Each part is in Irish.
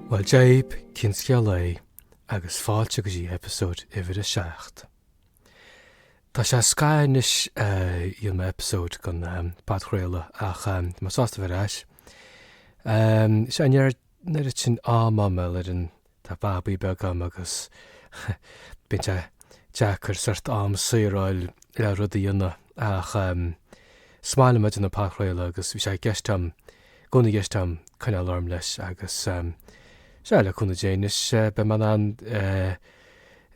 Bhuel, Dia dhaoibh cén scéal é agus fáilte go dtí eipeasóid uimhir a seacht. Tá sé scaitheamh anois ó rinne mé eipeasóid den bpodchraoladh ach tá mé sásta a bheith ar ais, seo an deireadh sin, ádh maith mé ar an Tá babaí beag agam agus bíonn sé deacair sort am saor a fháil le rudaí a dhéanamh ach em is maith liom a bheith ag déanamh podchraoladh agus bhí sé i gceist agam, i gcónaí i gceist agam coinneáil orm leis agus em sea le cúnamh Dé anois beidh mé in ann eh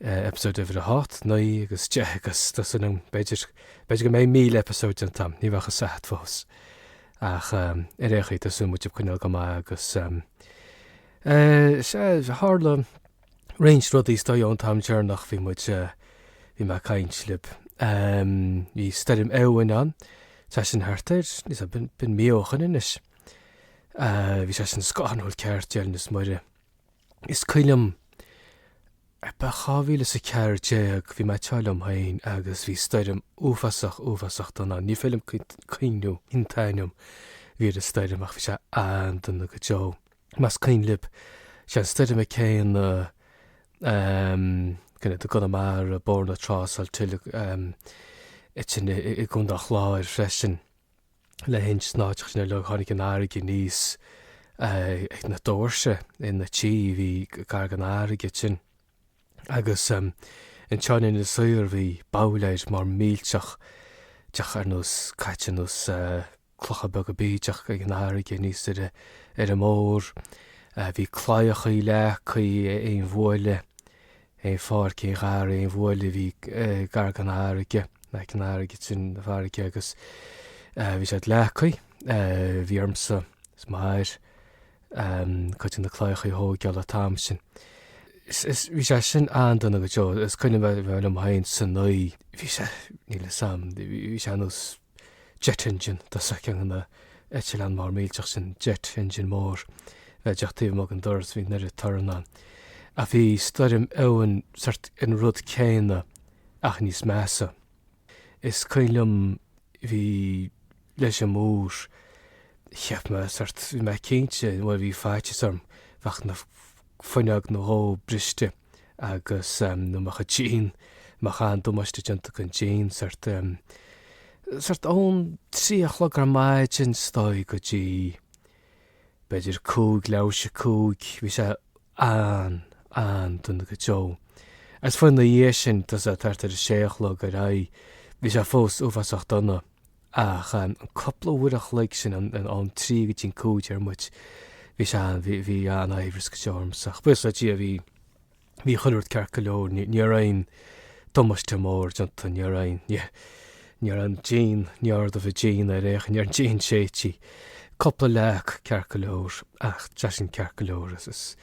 episode uimhir a hocht, naoi agus deich agus tá súil agam b'fhéidir, b'fhéidir go mbeidh míle episode déanta agam, ní bheadh a fhios agat fós. Ach em ar aon chaoi tá súil muid ag coinneáil go maith agus em, Sea, tharla roinnt rudaí is dóigh ón t-am deireanach a bhí muid, bhí mé ag caint libh. Bhí Stoirm Éowyn ann, tá sin thart ar, níl 'fhios a'm, mí ó shoin anois. Bhí sé sin scanrúil ceart, deireanas Muire. Is cuimhin liom, ba i dhá mhíle is a ceathair déag, bhí mé ag tráth liom féin agus bhí stoirm uafásach, uafásach dona ann. Ní féidir liom cuimhniú an t-ainm a bhí ar an stoirm ach bhí sé an-dona go deo. Más cuimhin libh, is é an stoirm chéanna i gConamara, Bóthar na Trá, Salthill, sin i gContae an Chláir freisin. Lahinch is na háiteachaí sin uilig tháinig an fharraige aníos ag na doirse sna tithe a bhí gar don fharraige ansin. Agus an teorainn ina saor, bhí boulders móra millteacha ar nós caite ar nós clocha beaga bídeacha ag an fharraige aníos ar an mbóthar. Bhí claíochaí leagtha, aon bhuaile, aon pháirc, aon gharraí, aon bhuaile a bhí gar don fharraige, aice an fharraige, trín bhfarraige agus bhí siad leagtha, bhí ormsa is m'athair, cuid de na claíochaí a thógáil an t-am sin. Bhí sé sin an-dona go deo, is cuimhin liom féin san oíche, bhí sé, níl 'fhios a'm, bhí sé nós jet engine, tá 'fhios agat ceann de na heitleáin móra millteacha sin, jet engine mór a bheith díreach taobh amuigh den doras, bhí an oiread torann ann. Ach bhí Stoirm Éowyn, sort, an rud céanna ach níos measa. Is cuimhin liom, bhí, leis an mbóthar, cheap mé sort, bhí mé cinnte, bhuel bhí faitíos orm, go mbeadh fuinneog nó dhó briste agus, nó go mbeadh an díon, go mbeadh an-damáiste déanta don díon sort. Sort ón trí a chlog ar maidin is dóigh go dtí, B'fhéidir cúig leathuair tar éis a cúig bhí sé an-, an-dona go deo. Agus fiú amháin ina dhiaidh sin, tá a fhios a'd, thart ar a sé a chlog ar aghaidh, bhí sé fós uafásach dona. Ach an cúpla uair a chloig sin, an, an, ón trí go dtí an cúig, deir muid, bhí sé an, bhí, bhí an-aimhreas go deo ormsa. Ach buíochas le Dia, bhí. Bhí chuile rud ceart go leor, ní raibh aon damáiste mór déanta, ní raibh aon díon ní raibh an díon ar aon chaoi, díon séidte, cúpla leac ceart go leor ach tá sé sin ceart go leor is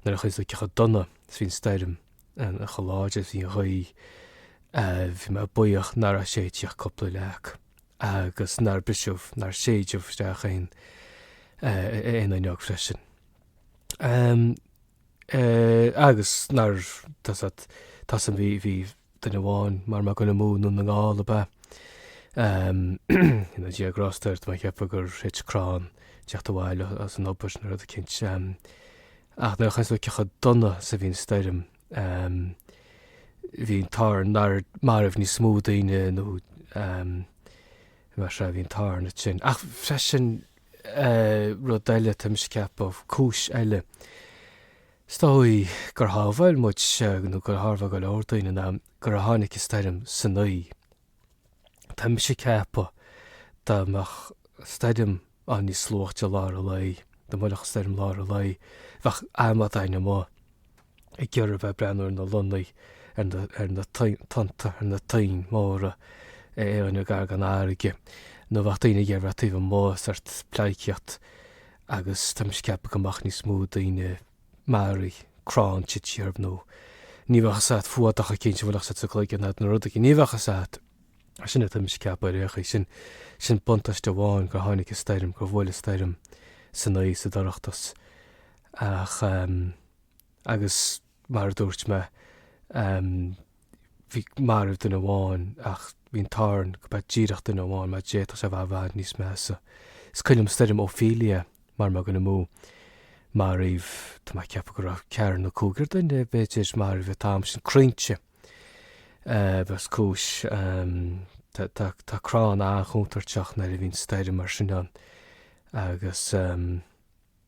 nuair a chuimhníonns tú cé chomh dona is a bhí an stoirm cé chomh láidir is a bhí an ghaoth bhí mé buíoch nach raibh séidte ach cúpla leac agus nár briseadh, nár séideadh isteach aon fhuinneog freisin. agus nar, tá a fhios a'd, tá a fhios a'd, bhí, bhí duine amháin mara bhfuil mé ag goil amú i nDún na nGall ab ea, go ndéana Dia grásta air, tá mé ag ceapadh gur thit crann ag teacht abhaile as an obair nó rud eicínt. Ach nuair a chuimhníonns tú cé chomh dona is a bhí an stoirm, bhí an t-ádh orainn nár maraíodh níos mó daoine nó mar sea bhí an t-ádh orainn ansin. Ach freisin Rud eile, tá mise ag ceapadh, cúis eile, is dóigh, gur shábháil muid, nó gur shábháil go leor daoine ná gur tháinig an stoirm san oíche. Tá mise ag ceapadh dá mbeadh an stoirm ann níos luaithe lár an lae, dá mbuailfeadh an stoirm lár an lae, bheadh amadáin amuigh. ag iarraidh bheith ag breathnú ar na lonnaí, ar na tonnta, ar na toinn mhóra aon áit gar don fharraige, nó bheadh daoine ag iarraidh bheith taobh amuigh, sórt pleidhcíocht, agus tá mise ag ceapadh go mbeadh níos mó daoine, maraithe, crann tite orthu, nó ní bheadh a fhios a'd, fuadach eicínt a bhuailfeadh sa gcloigeann iad, nó rud eicínt, ní bheadh a fhios a'd, sin é atá mise ag ceapadh ar aon chaoi, sin, sin buntáiste amháin gur tháinig an stoirm, gur bhuail an stoirm san oíche sa dorchadas, ach eh. agus mar a dúirt mé, bhí, maraíodh duine amháin ach bhí an t-ádh orainn go mba díreach duine amháin mar d'fhéadfadh sé a bheith i bhfad níos measa. Is cuimhin liom stoirm Ophelia mara bhfuil mé ag goil amú, maraíodh, tá mé ag ceapadh go raibh ceathrar nó cúigear duine, b'fhéidir, maraithe an t-am sin, croinnte, because, tá, tá, tá crann an-chontúirteach nuair a bhíonn stoirm mar sin ann agus.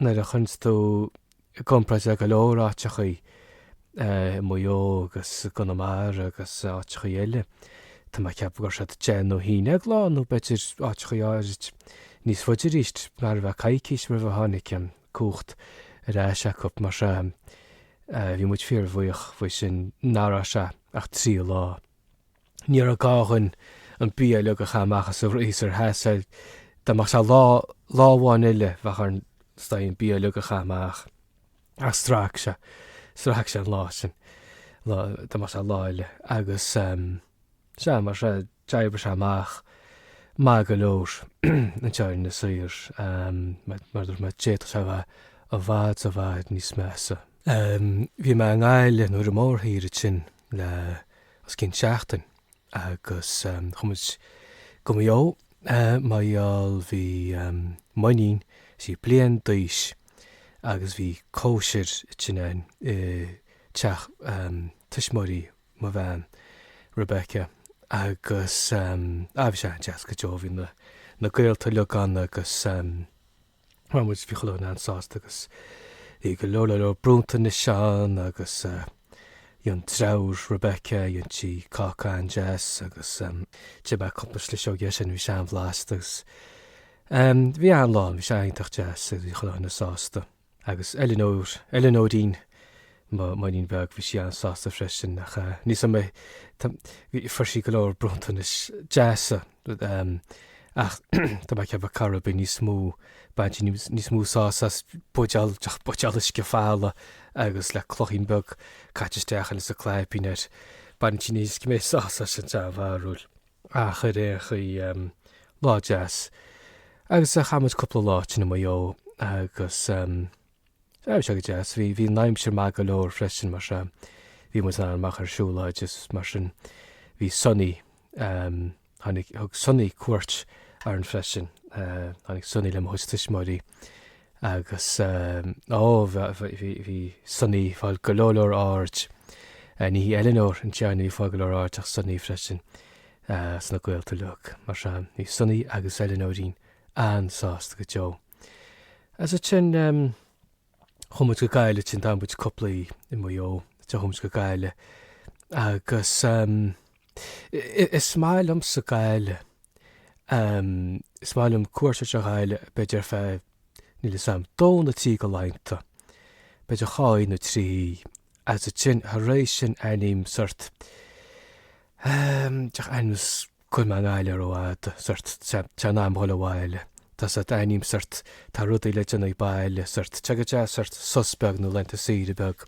nuair a chuireanns tú i gcomparáid le go leor áiteachaí i Maigh Eo agus i gConamara agus áiteachaí eile, tá mé ag ceapadh go raibh siad deich nó haon déag lá nó b'fhéidir áiteachaí áirid níos faide aríst, mar a bheadh coicís roimh a tháinig an cumhacht ar ais acu. Mar sea, bhí muid fíor-bhuíoch faoi sin nach raibh sé ach trí lá. Ní raibh gá againn an bia uilig a chaitheamh amach as an freezer, sheas sé, dá mbeadh sé lá, lá amháin eile, bheadh orainn, is dóigh, an bia uilig a chaitheamh amach. Ach strac sé, strac sé an lá sin, lá, dá mbeadh sé lá eile. Agus, sea, mar sin, d'oibrigh sé amach maith go leor, an teorainn soir, mar a dúirt mé, d'fhéadfadh sé a bheith i bhfad, i bhfad níos measa. Bhí mé i nGaillimh nó ar an mórthír ansin, le os cionn seachtain agus chuaigh muid Go Maigh Eo, mar gheall bhí m'iníon, sí bliain d'aois agus bhí cóisir ansin againn i teach tuismitheoirí mo bhean, Rebecca, agus, á, bhí sé an-deas go deo, bhí na gaolta uilig ann agus, Bhuel muid, bhí chuile dhuine an-sásta agus bhí go leor, leor, leor bronntanais ann agus dhéan deirfiúr Rebecca, dhéan sí cáca an-deas agus d'ith mé cúpla sliseog dhe sin, bhí sé an-bhlasta agus em bhí an-lá ann, bhí sé iontach deas agus bhí chuile dhuine sásta. Agus Eileanóir, Eileanóirín, m'iníon bheag, bhí sí an-sásta freisin, ach eh, níl 'fhios a'm, tá, bhí, fuair sí go leor bronntanais deasa, rud, em, ach tá mé ag ceapadh go raibh sí níos mó, baint sí níos, níos mó sásamh as buidéal, deoch, buidéal uisce folamh agus le cloichín beag caite isteach ann is an claibín air, baint sí níos mó sásamh as sin, sé mo bharúil. Ach ar aon chaoi, em, lá deas. Agus eh, chaith muid cúpla lá ansin i Maigh Eo agus em, Bhí sé go deas. Bhí an aimsir maith go leor freisin mar sin. Bhí muid ann amach ar siúlóid is mar sin. Bhí Sonny, tháinig, thug Sonny cuairt orainn freisin. Tháinig Sonny le mo chuid tuismitheoirí agus, ó, bhí Sonny fáil go leor leor aird. Ní hí Eleanor an ceann a bhí fáil go leor aird ach Sonny freisin sna gaolta uilig. Mar sin, bhí Sonny agus Eleanoirín an-sásta go deo. As sin chuaigh muid go Gaillimh, ansin d'fhan muid cúpla oíche i Maigh Eo, ansin chuaigh muid go Gaillimh agus is maith liomsa Gaillimh, is maith liom cuairt ar an Ghaillimh, b'fhéidir ar feadh, níl 'fhios a'm, dó nó trí go laethanta, b'fhéidir dhá oíche nó trí oíche, as sin, thar éis sin aithním sort, deich aithním. go bhfuil mé i nGaillimh rófhada, sort, tá, tá sé in am dhul abhaile, tá sort, aithním sort, tá rudaí le déanamh baile, sort, tá sé go deas, sort, sos beag nó laethanta saoire beag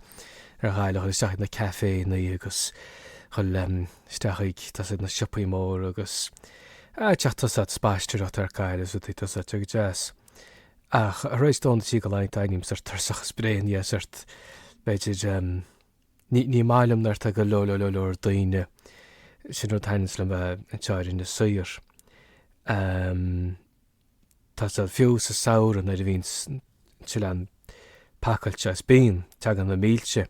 ar Ghaillimh, dhul isteach ag na cafénna agus dhul, em, isteach ag, tá sort, na siopaí móra agus, ah, teach, tá sort, spaisteoireacht ar Gaillimh agus rudaí, tá sort, tá sé go deas. Ach, tar éis dó nó trí go laethanta, aithním sort, tuirseach is bréan dhe, sort, b'fhéidir, em, Ní, ní maith liom nuair tá go leor, leor, leor, leor daoine, sin rud a thaitneas liom anseo ar Inis Oírr, tá 'fhios a'd, fiú sa samhradh nuair a bhíonn an t-oileán pacáilte is bíonn, teagann na mílte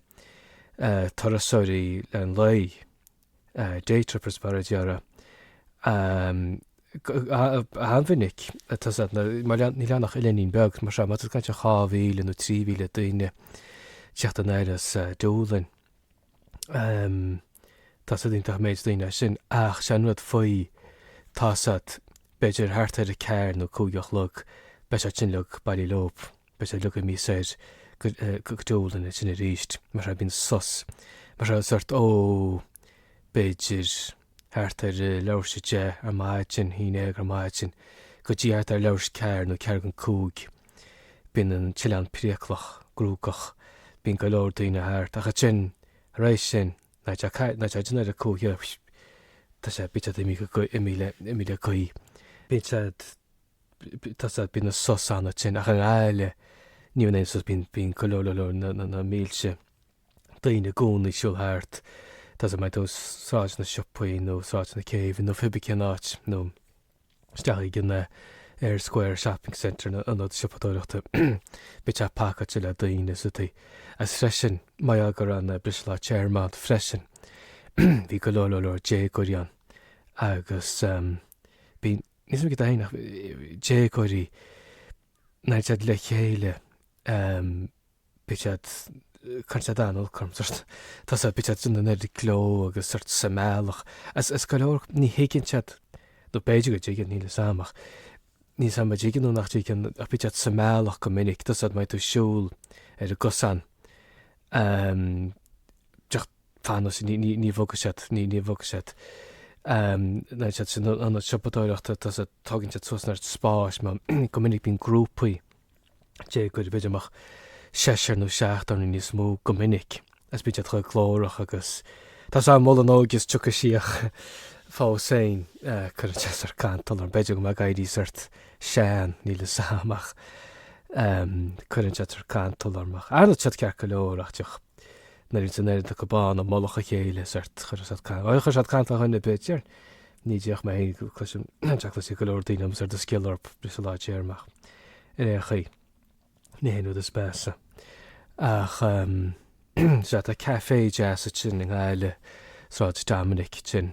turasóirí le haghaidh an lae. Daytrippers mar a déarfá. An-mhinic tá 'fhios a'd na, mar leath, níl ann ach oileáinín beag, mar seo, má tá tú ag caint ar dhá mhíle nó trí mhíle daoine teacht anoir as Dúlainn, tá 'fhios a'd iontach an méid daoine é sin ach sé an rud faoi, tá 'fhios a'd b'fhéidir thart ar a ceathair nó cúig a chlog, beidh siad sin uilig bailithe leob. Beidh siad uilig imithe soir go Dúlainn ansin aríst, mar a bhíonn sos, mar a sórt ó, b'fhéidir, thart ar a leathuair tar éis a deich ar maidin, haon déag ar maidin, go dtí thart ar leathuair tar éis a ceathair nó ceathrú don cúig, bíonn an t-oileán priaclach, cruógach, bíonn go leor daoine thart. Ach ansin, tar éis sin, nó i ndiaidh a cúig, tá sé, bíonn siad imithe, imithe le gaoith. Bíonn sé. bíonn an sos ansin ach i nGaillimh ní bhíonn aon sos, bíonn go leor leor na mílte daoine i gcónaí ag siúl thart, tá 'fhios a'd má tá tú Sráid na Siopaí nó Sráid na Céibhe nó pé bí cén áit, nó isteach ag an Eyre Square Shopping Centre, an ionad siopadóireachta, bíonn sé pacáilte le daoine istigh. Agus freisin, mar gheall go raibh an briseadh lár téarma ann freisin, bhí go leor leor leor déagóirí ann agus bíonn Níl 'fhios a'm céard tá ann ach déagóirí nuair atá siad le chéile bíonn siad, cuireann siad an-olc orm, tá 'fhios a'd, bíonn siad an-ardghlórach agus sórt sa mbealach is go leor, ní thuigeann siad, nó b'fhéidir go dtuigeann, níl 'fhios a'm, ach níl 'fhios a'm an dtuigeann nó nach dtuigeann, ach bíonn siad sa mbealach go minic, tá 'fhios a'd, má tá tú ag siúl ar an gcosán, Teacht anuas, ní bhogfaidh siad, ní bhogfaidh siad. Nuair atá siad san ionad siopadóireachta, tá 'fhios a'd, tógann siad suas an oiread spáis, mar, go minic bíonn grúpaí, déagóirí b'fhéidir amach seisear nó seachtar nó níos mó go minic, agus bíonn siad chomh glórach agus, tá sé á mholadh nó agus tiocfaidh síoch fós féin, cuireann siad sórt cantal orm, b'fhéidir go bhfuil mé ag éirí sórt sean, níl 'fhios a'm ach cuireann siad sórt cantal orm ach ara tá siad ceart go leor ach díreach. Nuair atá an oiread acu ann i mullach a chéile, sórt. Chuir siad cantal, ó chuir siad cantal ar dhuine ar bith, b'fhéidir, ní déarfadh mé féin go cloisim, cha cloisfidh go leor daoine agus ar do scoil ar briseadh lár téarma. Ar aon chaoi, ní hé an rud is measa. Ach, um, sea, tá café deas ansin i nGaillimh, Sráid Dominic, ansin.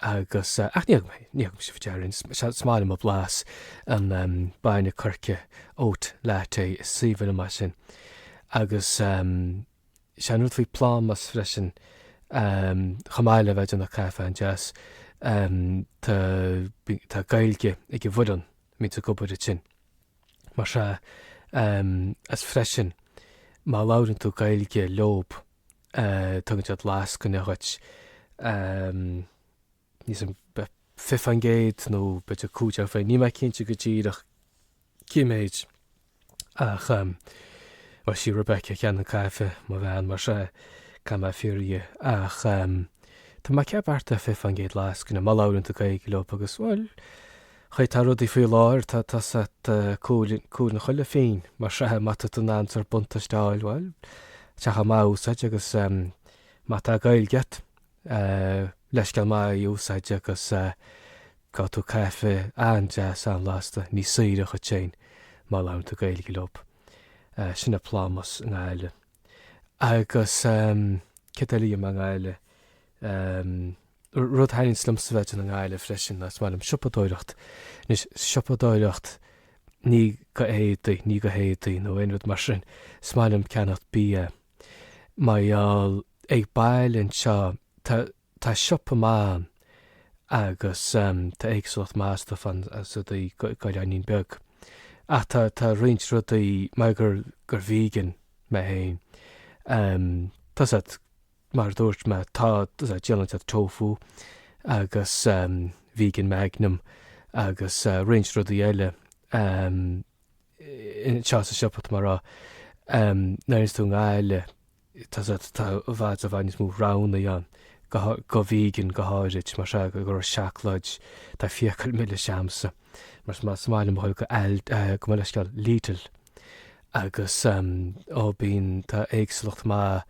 Agus, ach níl a fhios a'm, níl a fhios a'm, déarfainn, is maith liom a blas an bainne coirce, oat latte, is aoibhinn liom é sin. Agus is é an rud faoi Plámás freisin, chomh maith le bheith ag déanamh caife an-deas, tá Gaeilge ag an bhfoireann a bhíonns ag obair ansin, mar sea, agus freisin, má labhrann tú Gaeilge leob, Tugann siad lascaine dhuit, níl a fhios a'm an 20% nó b'fhéidir 15%, níl mé cinnte go díreach cén méid, ach bhuel, 'sí Rebecca a cheannaigh an caife, mo bhean, mar sea, caithfidh mé fiafraí dhi. Ach tá mé ag ceapadh 20% lascaine, má labhrann tú Gaeilge leob, agus bhuel, Chaoi atá rudaí faoi láthair, tá, tá a fhios a'd, cúil, cúnamh chuile phínn, mar sea, má tá tú in ann sórt buntáiste a fháil, bhuel, tá sé chomh maith é a úsáid agus, ehm, má tá Gaeilge a'd, eh, leithscéal maith í a úsáid agus, eh, gheobhaidh tú caife an-deas an-bhlasta, níos saoire dhuit féin má labhrann tú Gaeilge leob. Eh, sin é Plámás i nGaillimh. Agus, ehm, céard eile a dhéanfadh mé i nGaillimh, ehm. Rud a thaitníonns liomsa a bheith i nGaillimh freisin ná is maith liom siopadóireacht. Anois, siopadóireacht, ní go héadaí, ní go héadaí nó aon rud mar sin. Is maith liom ceannacht bia. Mar gheall, ag baile anseo, tá, tá siopa maith ann agus, em, tá éagsúlacht maith stuif ann is rudaí go, go oileáinín beag. Ach tá, tá roinnt rudaí, mar gur, gur vegan mé féin, em, tá a fhios a'd. Mar a dúirt mé, tá a fhios a'd, díolann siad tofu agus Vegan Magnum agus roinnt rudaí eile anseo sa siopa, tá mé a rá. Nuair a théanns tú i nGaillimh, tá i bhfad i bhfad níos mó roghanna ann, go vegan go háirid, mar sin, go leor seacláid, tá fiacail milis a'msa, mar sin, is maith liom a dhul go Aldi, gabh mo leithscéal, Lidl. agus ó bíonn, tá éagsúlacht maith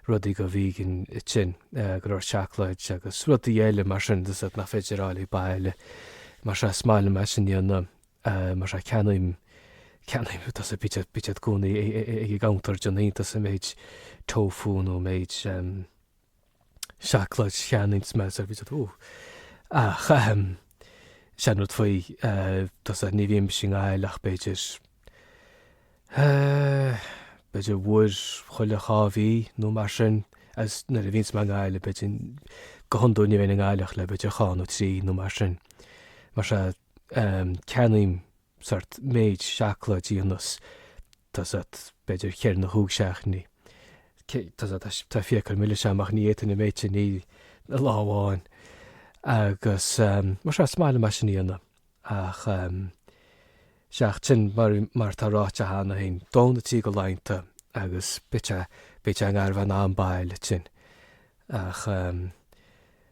rudaí go vegan ansin, go leor seacláid agus rudaí eile mar sin tá a fhios a'd nach féidir a fháil ag baile. Mar sea, is maith liom é sin a dhéanamh, mar sea, ceannaím, ceannaím tá a fhios a'd bítear, bítear i gcónaí ag ag ag ag an gcuntar ag déanamh iontas an méid tofu nó méid, seacláid a cheannaíonns mé sórt bíonn siad oh ach ehm is é an rud faoi tá a fhios a'd ní bhímse i nGaillimh ach b'fhéidir eh b'fhéidir uair chuile dhá mhí nó mar sin agus nuair a bhíonns mé i nGaillimh b'fhéidir go hiondúil ní bheinn i nGaillimh ach le b'fhéidir dhá nó trí nó mar sin mar sea ehm ceannaím sórt méid seacláidí ionas Tá a fhios agat, b'fhéidir, cheithre nó chúig seachtainí, tá a fhios agat, tá fiacail milis a'm ach, ní fhéadfainn an méid sin a ithe lá amháin. Agus, mar seo, is maith liom é sin a dhéanamh. Ach, seachas sin, mar, mar atá ráite cheana féin, dó nó trí de laethanta agus beidh sé, beidh sé i ngar bhean a'm bail le tinn. Ach,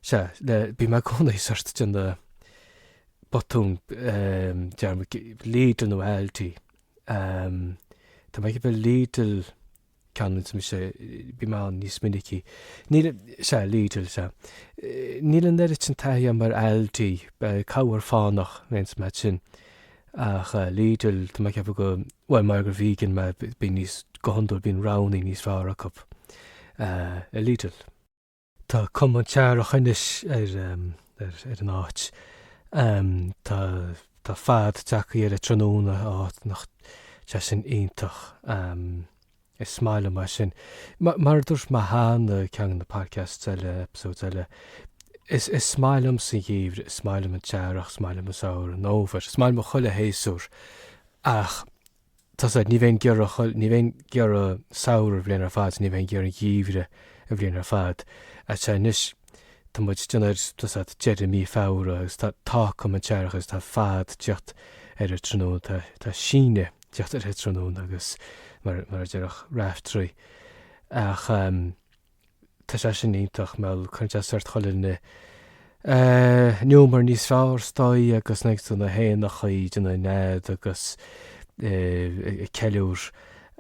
sea, le, bhí mé i gcónaí sórt ag déanamh botúin, dearmad, Lidl nó Aldi. Tá mé ag ceapadh Lidl a cheannaíonns mise. Bím ann níos minicí. Níl, sea, Lidl, sea. Níl an oiread sin taithí agam ar Aldi, corruair fánach nó ins mar sin. Ach Lidl, tá mé ag ceapadh go, bhuel, mar gur vegan mé bíonn níos, go hiondúil bíonn roghannaí níos fearr acu i Lidl. Tá cuma an t-earrach anois ar an áit. Tá fad ag teacht ar an tráthnóna, áfach, nach deas sin iontach. Is maith liom é sin. Mar a dúirt mé cheana, ceann de na podcasts eile, episodes eile, is maith liomsa an geimhreadh, is maith liom an t-earrach, is maith liom an samhradh, an fhómhar, is maith liom chuile shéasúr, ach Tá a fhios agat, ní bheinn ag iarraidh, ní bheinn ag iarraidh samhradh an bhliain ar fad, ní bheinn ag iarraidh geimhreadh an bhliain ar fad. Sea, anois, tá muid, ag déanamh ar, tá a fhios agat, deireadh mí Feabhra agus tá, tá cuma an t-earrach agus tá fad ag teacht ar an tráthnóna, tá, tá síneadh ag teacht ar an tráthnóna agus mar, mar a déarfadh Raiftearaí. Ach. Tá sé sin iontach, mar gheall cuireann sé sórt chuile dhuine, eh, in iúmar níos fearr, is dóigh agus feiceann tú na héanachaí ag déanamh nead agus, eh, ag ceiliúr,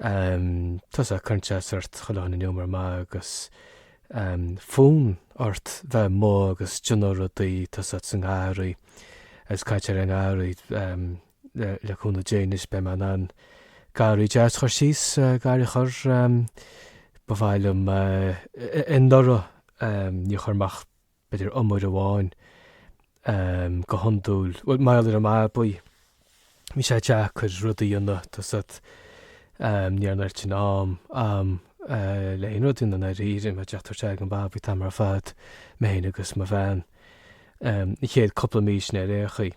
em, tá a fhios agat, cuireann sé sórt chuile dhuine in iúmar maith agus, em, fonn ort bheith amuigh agus ag déanamh rudaí, tá a fhios agat sa ngarraí agus ag caint ar an ngarraí, em, le cúnamh Dé anois beidh mé in ann garraí deas a chur síos, garraí a chur, ba mhaith liom, anuraidh níor chuir mé ach b'fhéidir iomaire amháin go hiondúil, bhuel mar gheall ar an mbabaí bhí sé deacair rudaí a dhéanamh, tá a fhios agat, ní raibh an oiread sin am a'm le haon rud a dhéanamh i ndáiríre, muid ag tabhairt aire dhon mbabaí an t-am ar fad, mé fhéin agus mo bhean, an chéad cúpla mí sin ar aon chaoi.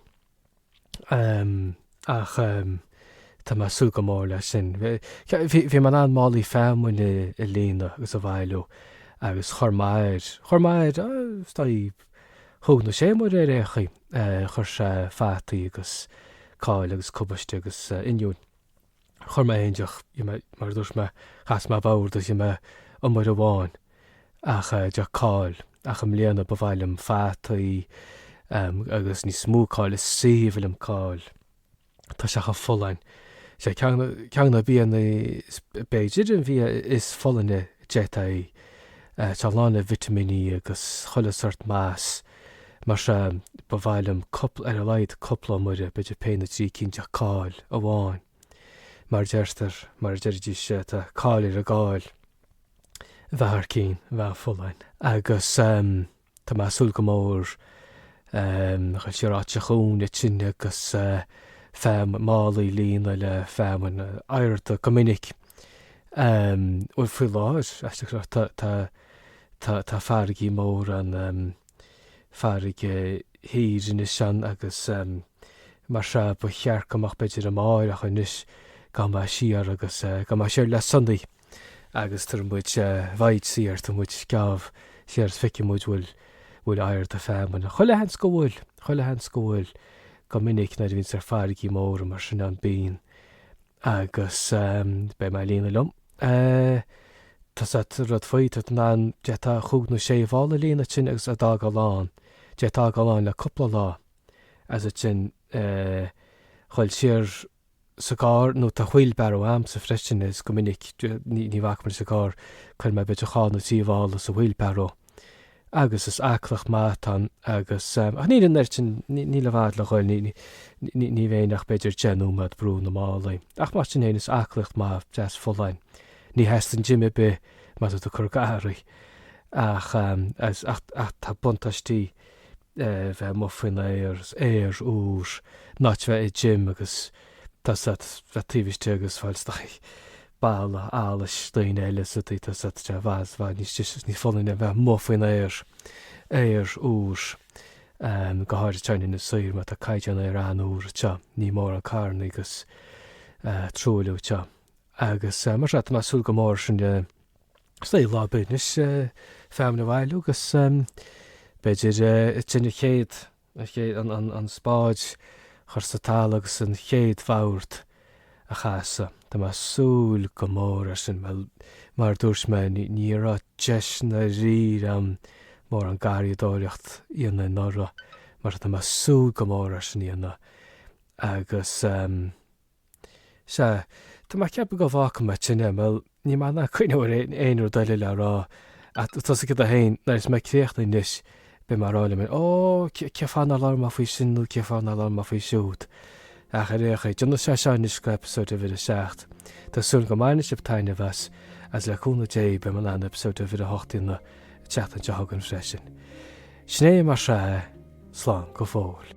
Ach tá mé ag súil go mór leis sin. Bhí mé in ann málaí feamainne a líonadh agus a bhailiú agus chuir m'athair, chuir m'athair, is dóigh, cúig nó sé iomaire ar aon chaoi, chuir sé fataí agus cál agus cabáiste agus oinniúin. Chuir mé fhéin deoch, you know, mar a dúirt mé, chas mé i bhfabhar just, you know, iomaire amháin, ach eh, de cáil, ach i mbliana ba mhaith liom fataí, em, agus níos mó cáil, is aoibhinn liom cáil, tá sé chomh folláin, sé ceann, ceann de na bianna is, b'fhéidir an bia is folláine a d'fhéadfaí a ithe, tá lán le vitimíní agus chuile shórt muis. Mar sin, ba mhaith liom cúpla, ar a laghad cúpla, iomaire, b'fhéidir péire nó trí cinn de cáil amháin. Mar deirtear, mar a deiridís, tá cáil ar an gcáil. Bheadh thar cinn, bheadh folláin. Agus tá mé ag súil go mór dhul siar áit an chuain ansin agus feamainn, málaí a líonadh le feamainn, ara tá go minic. Bhuel, faoi láthair, aisteach go leor, tá, tá, tá, tá farraigí móra ann, farraige thiar anois ann agus mar sin, ba cheart go mbeadh, b'fhéidir, amárach anois, gabhfaidh mé siar agus, gabhfaidh mé siar le Sonny agus tabharfaidh muid voyage siar, tabharfaidh muid geábh siar is feicfidh muid bhfuil, bhfuil oiread de feamainn ann. Chuile sheans go bhfuil, chuile sheans go bhfuil, go minic nuair a bhíonns ar farraigí móra mar sin ann bíonn, Agus beidh mé ag líonadh liom. Tá sé an rud faoi, tá an an, d'fhéadfá chúig nó sé mhála a líonadh ansin agus iad a fhágáil ann, d'fhéadfá iad a fhágáil ann le cúpla lá. As ansin, dul siar sa gcarr nó tá wheelbarrow a'msa freisin is go minic ní bhacfaidh mé leis an gcarr, cuirfidh mé b'fhéidir dhá nó trí mhála sa wheelbarrow. agus is aclaíocht mhaith atá ann, agus, ach níl an oiread sin, níl i bhfad le dhul, ní bheinn ach b'fhéidir deich nóiméad ag brú na málaí, ach mar sin féin is aclaíocht mhaith, dheas fholláin. Ní theastaíonn gym ar bith má tá tú ag cur garraí, ach tá buntáistí bheith amuigh faoin aer, aer úr, in áit bheith i gym agus tá a fhios agat, bheith taobh istigh agus fáil isteach. Boladh allais daoine eile sa tsaothar sa tá sé i bhfad níos deise is níos folláine a bheith amuigh faoin aer, aer úr, go háirid teann ina saoire mar tá caighdeán aeir an-úr anseo, níl mórán carranna agus truailliú anseo. Agus mar sin, tá mé ag súil go mór leis sin lá ar bith anois, feamainn a bhailiú agus b'fhéidir ansin an chéad. An chéad an spáid chur sa talamh agus an chéad bhagairt a chasadh. Tá mé ag súil go mór leis sin, bhuel, mar a dúirt mé, ní raibh deis i ndáiríre a'm mórán garraíodóireacht a dhéanamh anuraidh, mar tá mé ag súil go mór é sin a dhéanamh agus. Sea, tá mé ag ceapadh go bhfágfaidh mé ansin é, bhuel, níl mé in ann cuimhneamh ar aon rud eile le rá, ach tá a fhios agat fhéin, nuair a bheas mé críochnaithe anois, beidh mé ag rá liom fhéin, Ó, cén fáth nár labhair mé faoi sin nó cén fáth nár labhair mé faoi siúd? Ach ar aon chaoi, déanfaidh sé seo anois go eipeasóid uimhir a seacht. Tá súil agam go mbainfidh sibh taitneamh as, agus le cúnamh Dé, beidh mé in ann eipeasóid uimhir a hocht a dhéanamh an tseachtain seo chugainn freisin. Sin é, mar sin, slán go fóill.